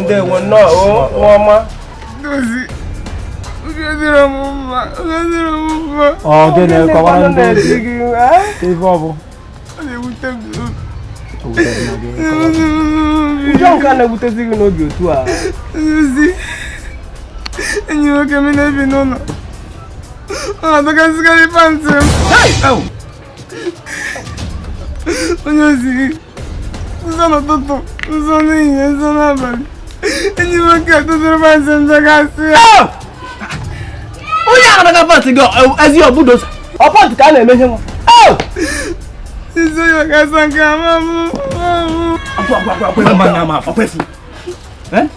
ndewo nnọọ nwa ọma ọ gịnị kọwara ndị ozi ife ọ bụ ụjọ nke a na-ewutezi gị n'obi otu a enyi nwoke m na-ebi n'ụlọ ọ na-adọkasịkarị pantị m onye ozi gị nzọ n'ụtụtụ nzọ n'ehihie nzọ n'abalị enyi m nwoke tụtụrụ pantị m dọkasị ya ah! onye ahụ na-adọka pantị gị ezi ọbụdosa ọ pantị ka a na-eme ihe nwa ah! nzọ ya gasị nke ama m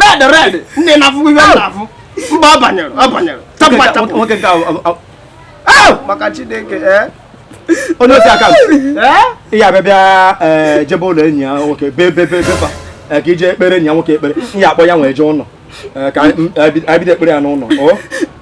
red red ndị na-afụ ihe m na-afụ mba ọ banyere ọ banyere chapụ chapụ nwoke nke ahụ maka chineke ee onye ozi ka ị ya-abịa bịa jebe ụlọ enyi ya nwoke bee bee bee be fa ka i je kpeere enyi ya nwoke ekpere ị ya-akpọ ya wee jee ụlọ ka anyị bido ekpere ya n'ụlọ